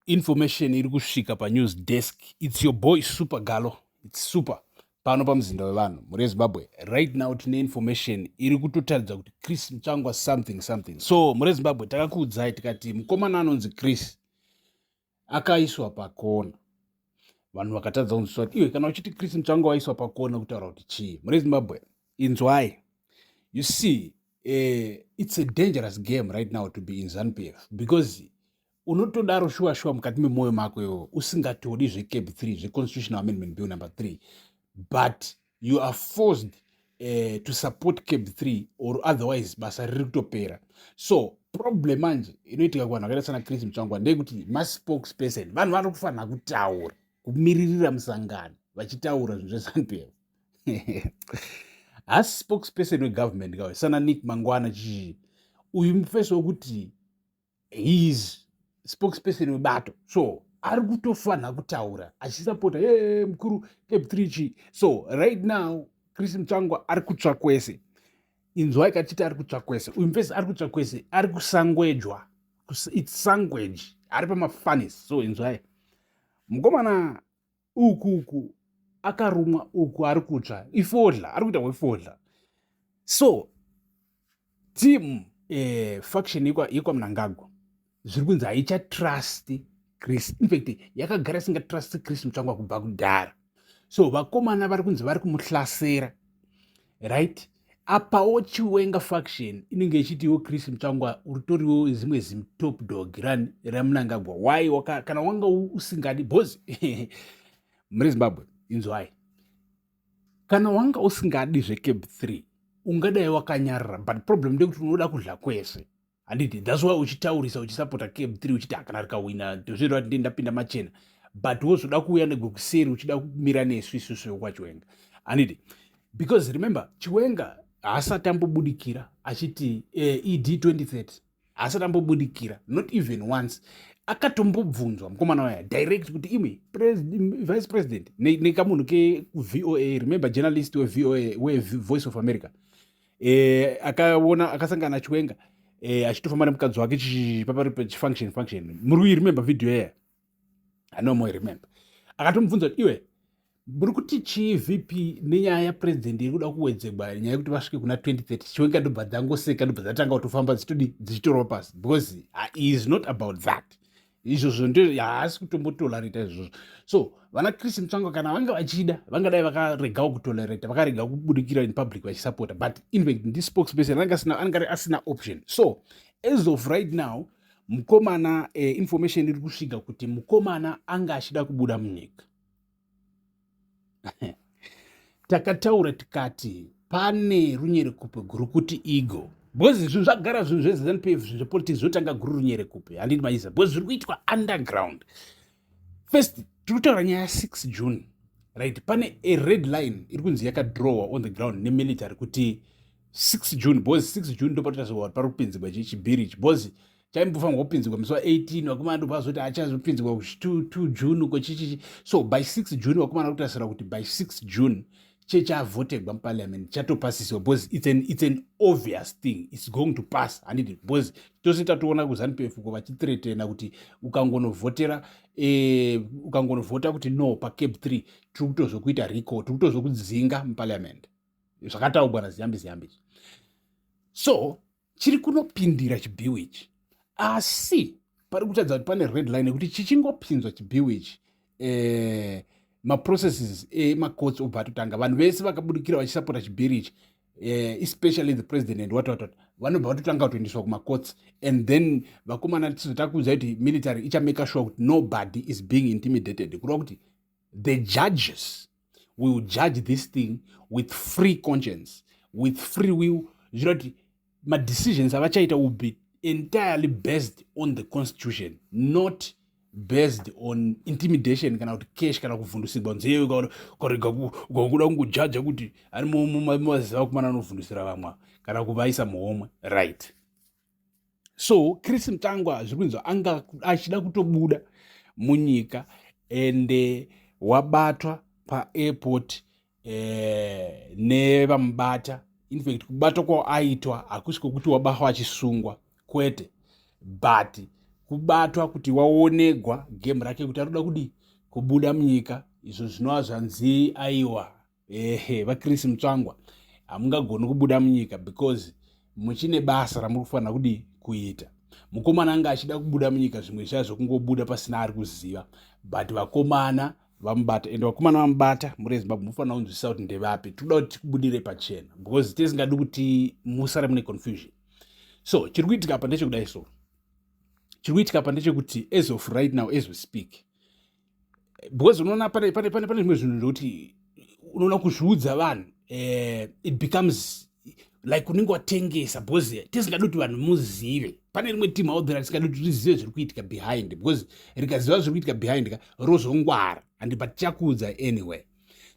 information iri kusvika panews desk its your boy super galo its super pano pamuzinda wevanhu mhuri yezimbabwe right now tine information iri kutotaridza kuti chris mutsvangwa something something so mhuri yezimbabwe takakuudzai tikati mukomana anonzi chris akaiswa pakona vanhu vakatadza kunzwiswa kuti iwe kana uchiti chris mutsvangwa waiswa pakona kutaura kuti chii mhuri yezimbabwe inzwai you see uh, it's a dangerous game right now to be in zanupf because unotodaro shuwa shuwa mukati memwoyo mako iwo usingatodi zvecab 3 zveconstitutional amendment bill number 3 but you are forced uh, to support cab 3 or otherwise basa riri kutopera so problem manje inoitika kuvanhu vakaita sana chris mutsvangwa ndeyekuti maspokesperson vanhu vari kufanira kutaura kumiririra musangano vachitaura zvinhu zvesanp hasi spokesperson wegovernment kawe sana nick mangwana chii uyu mufesi wekuti he is spokesperson webato so ari kutofanha kutaura achisapota e mukuru cap 3 chi so right now chris mutsvangwa ari kutsva kwese inzwa ikatiti ari kutsva kwese uyu mfesi ari kutsva kwese ari kusangwejwa its sangweji ari pamafanis so inzwai mukomana uku uku akarumwa uku ari kutsva ifodla ari kuita kwefodla so team eh, faction yekwamunangagwa zviri kunzi haichatrust chris infact yakagara isingatrust chris mutsvangwa kubva kudhara so vakomana vari kunzi vari kumuhlasera right apawo chiwenga faction inenge ichitiwo chris mutsvangwa uritoriwo zimwe zimtop dog ran ramunangagwa why waka, kana wanga usingadi bhozi muri zimbabwe inzwai kana wanga usingadi zvecab 3 ungadai wakanyarara but problem ndekuti unoda kudla kwese handiti thats why uchitaurisa uchisapota cab 3 uchiti hakana rikahwina ndozviroa kuti ndapinda machena but wozoda kuuya negwekuseri uchida kumira nesu isusu yokwachiwenga handiti because remember chiwenga haasati ambobudikira achiti uh, eh, ed 2030 haasati ambobudikira not even once akatombobvunzwa mukomana waya direct kuti imwe vice president nekamunhu ne kekuvoa remember journalist wevoa wevoice of america eh, akaona akasangana chiwenga eh, achitofamba nemukadzi wake papari pachifunction function muri kuiremember video yeye anomo remember akatomubvunza kuti iwe muri kuti chii vp nenyaya yapresident iri kuda kuwedzegwa nyaya yekuti vasvike kuna 2030 chiwenga ndobva dzangoseka ndobva dzatanga kutofamba dzichitodi dzichitorwa pasi because he is not about that izvozvo ndo haasi kutombotolereta izvozvo so vana chris mutsvanga kana vanga vachida vangadai vakaregawo kutolereta vakarega kubudikira in public vachisapota but infact ndi spokesperson anenge asina option so as of right now mukomana eh, information iri kusvika kuti mukomana anga achida kubuda munyika takataura tikati pane runyerekupe guru kuti ego because zvinhu zvagara zvinhu zveznp zvinhu zvepolitics zvotanga guru runyerekupe handiti maiza because zviri kuitwa underground first tiri kutaura nyaya 6 june right pane a red line iri kunzi yakadrowa on the ground nemilitary kuti 6 june because 6 june ndopatotazowa pari kupinzigwa chibhiri ichi because chaimbofanirwa kupinzirwa musi wa18 vakomana ndobva vazoti achazopinzirwa ku2 june uko chichichi so by 6 june vakomana kutasira kuti by 6 june chechavhotegwa muparliament chatopasiswa because it's an, it's an obvious thing it's going to pass handiti because tose tatoona kuzanu pf ko vachitretena kuti ukangonovhotera eh, ukangonovhota kuti no pacab 3 tiri kutozokuita rico tiri kutozokudzinga muparliament zvakataugwa naziyambi ziyambi so chiri kunopindira chibhiwi ichi asi pari kutadza kuti pane red line yekuti chichingopinzwa chibhiwi ichi eh, maprocesses emacourts eh, obva atotanga vanhu vese vakabudikira vachisapota chibhiri ichi eh, especially the president and what watot vanobva vatotanga kutoendeswa kumacourts and then vakomana tizotaa kuudza kuti military ichameka sure kuti nobody is being intimidated kureva kuti the judges we will judge this thing with free conscience with free will zvichira kuti madecisions avachaita will be entirely based on the constitution not based on intimidation kana kuti cash kana kuvhundusigwa nzeve ukarega ukakuda kungojaja kuti ari mumaziva kumana anovhundusira vamwe kana kuvaisa muhomwe right so chris mutangwa zviri kunzwa anga achida kutobuda munyika ende wabatwa paairport eh, nevamubata infact kubatwa kwaaitwa hakusi kwekuti wabatwa achisungwa kwete but kubatwa kuti waonegwa game rake kuti anoda kudii kubuda munyika izvo zvinova zvanzi aiwa ehe vachris mutsvangwa hamungagoni kubuda munyika because muchine basa ramuri kufanira kudii kuita mukomana anga achida kubuda munyika zvimwe zviya zvekungobuda pasina ari kuziva but vakomana vamubata ende vakomana vamubata muri ezimbabwe mufanira kunzwisisa kuti ndevapi tikuda kuti tikubudire pachena because tisingadi kuti musare mune confusion so chiri kuitika apa ndechekudai so chiri kuitika apa ndechekuti as of right now as we speak because unoona pane pane pane pane zvimwe zvinhu ndokuti unoona kuzviudza vanhu eh, it becomes like unenge watengesa because tisingadi kuti vanhu muzive pane rimwe team out there tisingadi kuti rizive zviri kuitika behind because rikaziva zviri kuitika behind ka rozongwara and but tichakuudza anyway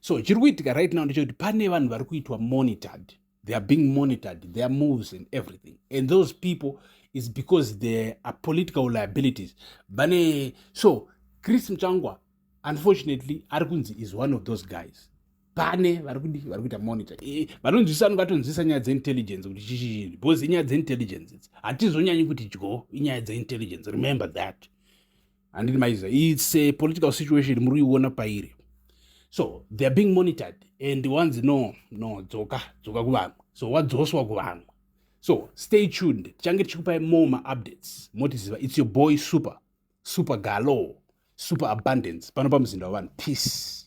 so chiri kuitika right now ndechekuti pane vanhu vari kuitwa monitored they are being monitored their moves and everything and those people is because they are political liabilities vane so chris mchangwa unfortunately ari kunzi is one of those guys pane vari kudi vari kuita monitor eh, vanonzwisa anenge atonzwisa nyaya dzeintelligence kuti chichii because inyaya dzeintelligence idzi hatizonyanyi kuti dyo inyaya dzeintelligence remember that handidi maiza its a political situation muri kuiona pairi so they are being monitored and wanzi no no dzoka dzoka kuvamwe so wadzoswa kuvamwe so stay tuned tichange tichikupai more maupdates motiziva its your boy super super galo super abundance pano pamuzinda wavanhu peace